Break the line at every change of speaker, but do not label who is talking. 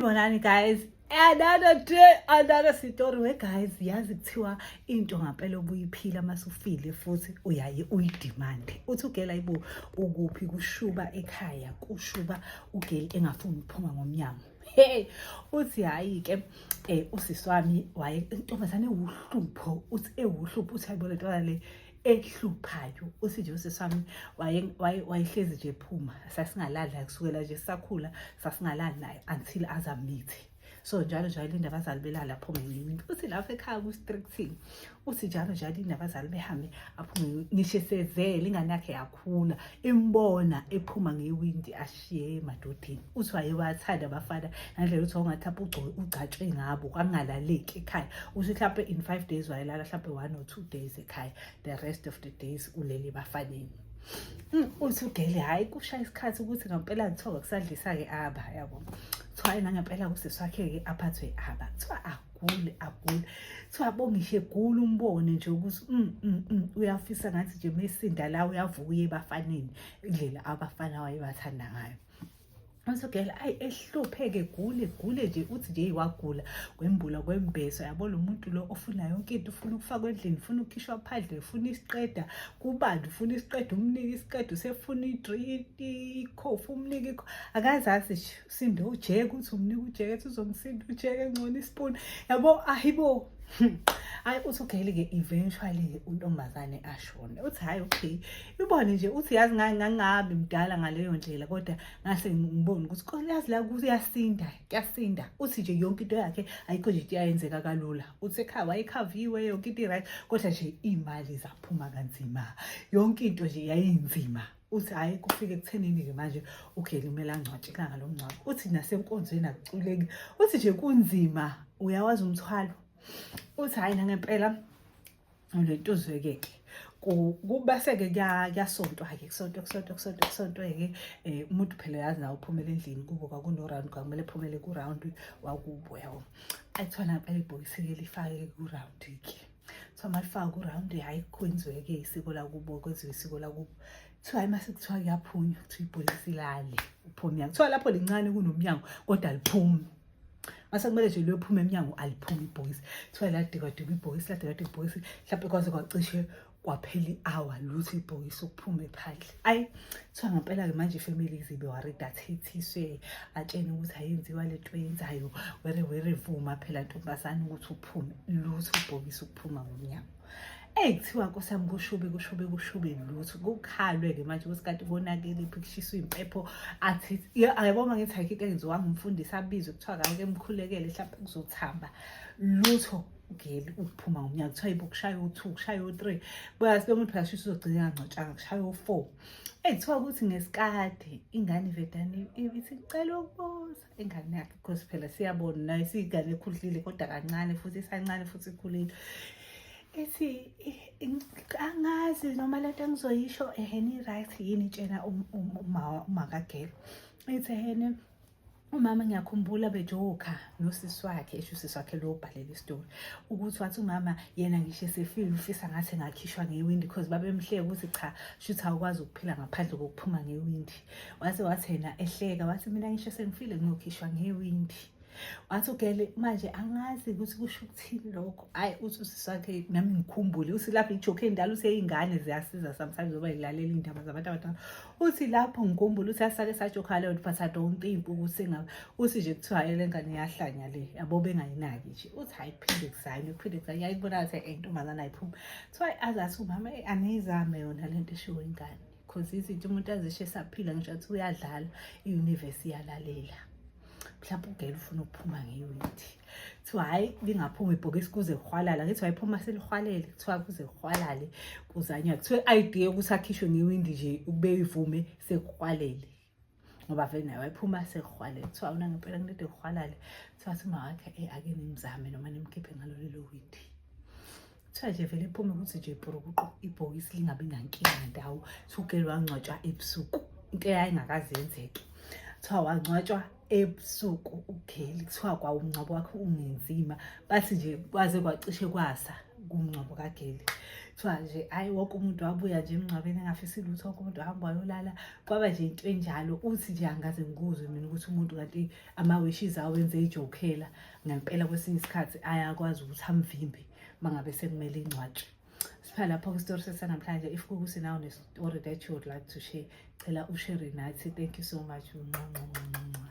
bonani guys another day another story we guys yazi kuthiwa into ngampela obuyiphila masufile futhi uyaye uyidemand uthi ugela ibo ukuphi kushuba ekhaya kushuba ugeli engafuni ukuphuma ngomnyango hey uthi hayi ke eh usisi wami waye intombazane ewuhlupho uthi ewuhlupho uthi ayibona ntwana le ehluphayo uthi nje usisi wami wayehlezi nje phuma sasingalali naye kusukela nje sakhula sasingalali naye until azamithi so njalo njalo linde abazali belala aphume ngiwinto uthi lapho ekhaya ku-stricting uthi njalo njalo linde abazali behambe aphume ngisho esezele ingane yakhe yakhula imbona ephuma ngewindi ye madodeni uthi wayewathanda abafana nandlela uthi wawungathi hlampe ugcatshwe ngabo kwangalaleki ekhaya uthi hlampe in five days wayelala hlampe one or two days ekhaya the rest of the days ulele bafaneni hmm, uthi ugele hhayi kushaya isikhathi ukuthi ngampela kuthiwa kusadlisa-ke aba yabo kuthiwa hhayi nangempela kuseswakhe-ke aphathwe aba kuthiwa agule agule kuthiwa bongishe gula umbone nje ukuthi mm, mm, mm, uyafisa ngathi nje mesinda la uyavuka uye ebafaneni indlela abafana wayebathanda ngayo Usogela ayi ehlupheke gule gule nje uthi nje wagula kwembula kwembeso yabo lo muntu lo ofuna yonke into ufuna ukufakwa endlini ufuna ukukhishwa phandle ufuna isiqeda kubandi ufuna isiqeda umnike isiqeda usefuna idrink ikhofu umnike akazazi nje sinde ujeke uthi umnika ujeke ethi uzomsinda ujeke ngcono isipuni yabo ayibo hayi uthi ugeyile-ke eventually-ke untombazane ashone uthi hhayi okay ibone nje uthi yazi ngangabi mdala ngaleyo ndlela kodwa ngase ngibone ukuthi kolazi la kuyasinda kuyasinda uthi nje yonke into yakhe ayikho nje into yayenzeka kalula uthi ekhaya wayekhaviwe yonke into i-right kodwa nje iy'mali zaphuma kanzima yonke into nje yayinzima uthi hhayi kufike kuthenini-ke manje ugeli kumele angcwatshe ilanga lomngcwabo uthi nasenkonzweni akuculeki uthi nje kunzima uyawazi umthwalo uthi hhayi nangempela le nto uzwekeke kubaseke kuyasontwa-ke kusontwa kusontwa kusontwa kusontwe-ke um eh, umuntu phela yazi nawo uphumele endlini kubo kwakuno-round kwakumele phumele ku-round wakubo yabo ayithona ngempela ibhokisi-ke lifake ku-round-ke kuthiwa malifaka uround hhayi kwenziwe-ke isiko lakubo kwenziwe isiko lakubo kuthiwa hayi mase kuthiwa kuyaphunywa kuthiwa ibhokisi lale uphume emnyango kuthiwa lapho lincane kunomnyango kodwa liphume mase kumele nje liyophume emnyango aliphume ibhokisi kuthiwa ladikadika ibhokisi ladikadika ibhokisi mhlawumbe kwaze kwacishe kwaphela i-hour luthi ibhokisi ukuphume phandle ayi kuthiwa ngempela-ke manje ifamily izibe warida athethiswe atshene ukuthi ayenziwa le nto eyenzayo were were vuma phela ntombazane ukuthi uphume lutho ubhokisa ukuphuma ngomnyango eyi kuthiwa nkosi yami kushube kushube kushube lutho kukhalwe-ke manje ukuthi kanti konakele phi kushiswa iy'mpepho athi ayaboma ngithi ayikho into engenziwanga umfundisi abizwe kuthiwa kake mkhulekele mhlawumpe kuzothamba lutho ugeli ukuphuma ngomnyango kuthiwa ibo kushaya u-two kushaya u-three buyazi lo muntu phela uzogcina angangcotshanga kushaya u-four eyi kuthiwa ukuthi ngesikade ingane ivedane ithi cela ukubuza ingane yakhe because phela siyabona nayo siyigane ekhudlile kodwa kancane futhi isancane futhi ikhulile ethi angazi noma le nto engizoyisho eheni i-right yini itshena umakagelo ethi ehene umama ngiyakhumbula bejoka nosisi wakhe esho usisi wakhe lo obhalela isitori ukuthi wathi umama yena ngisho esefile ufisa ngathi engakhishwa ngewindi because babemhleka ukuthi cha shuthi awukwazi ukuphila ngaphandle kokuphuma ngewindi wase wathi yena ehleka wathi mina ngisho sengifile ngiyokhishwa ngewindi wathi ugele manje angazi ukuthi kusho ukuthini lokho ayi uthi usisi wakhe nami ngikhumbule usilapha ijoke endala useyingane ziyasiza sometimes oba yilalela iy'ndaba zabantu abadala uthi lapho ngikhumbula uthi asake sajokhale ukuthi but i don't think ukuthi ngabe uthi nje kuthiwa le ngane yahlanya le yabo bengayinaki nje uthi hayi phinde kusayini phinde kusayini yayibona ukuthi eh ntombazana ayiphumi so i azathi umama eh, aniyizame yona le nto eshiwo ingane because izinto umuntu azishe saphila ngisho ukuthi uyadlala i-universe iyalalela mhlawumbe ugela ufuna ukuphuma ngeyunithi kuthiwa hhayi lingaphuma ibhokisi kuze kuhwalala ngithi wayiphuma selihwalele kuthiwa kuze kuhwalale kuzanywa kuthiwa i-idea yokuthi akhishwe ngewindi nje ukube ivume sekuhwalele ngoba vele naye wayephuma sekuhwale kuthiwa una ngempela kunede kuhwalale kuthiwa sima wakhe e ake nimzame noma nimkhiphe ngalolelo windi kuthiwa nje vele iphume ukuthi nje ibhurukuqo ibhokisi lingabi nankinga ndawo sugeli wangcwatshwa ebusuku into eyayingakaze yenzeke kuthiwa wangcwatshwa ebusuku ugeli kuthiwa kwawumngcwabo wakhe ungenzima bathi nje kwaze kwacishe kwasa kumngcwabo kageli kuthiwa nje hhayi wonke umuntu wabuya nje emngcwabeni engafisi lutho wonke umuntu wahamba wayolala kwaba nje into enjalo uthi nje angaze ngikuzwe mina ukuthi umuntu kanti ama-wishes awenze ijokhela ngempela kwesinye isikhathi ayakwazi ukuthi amvimbe uma ngabe sekumele ingcwatshe sipha lapho kwistori sesanamhlanje if kukuthi nawo nestory that you would like to share cela ushere nathi thank you so much nqanqanqanqa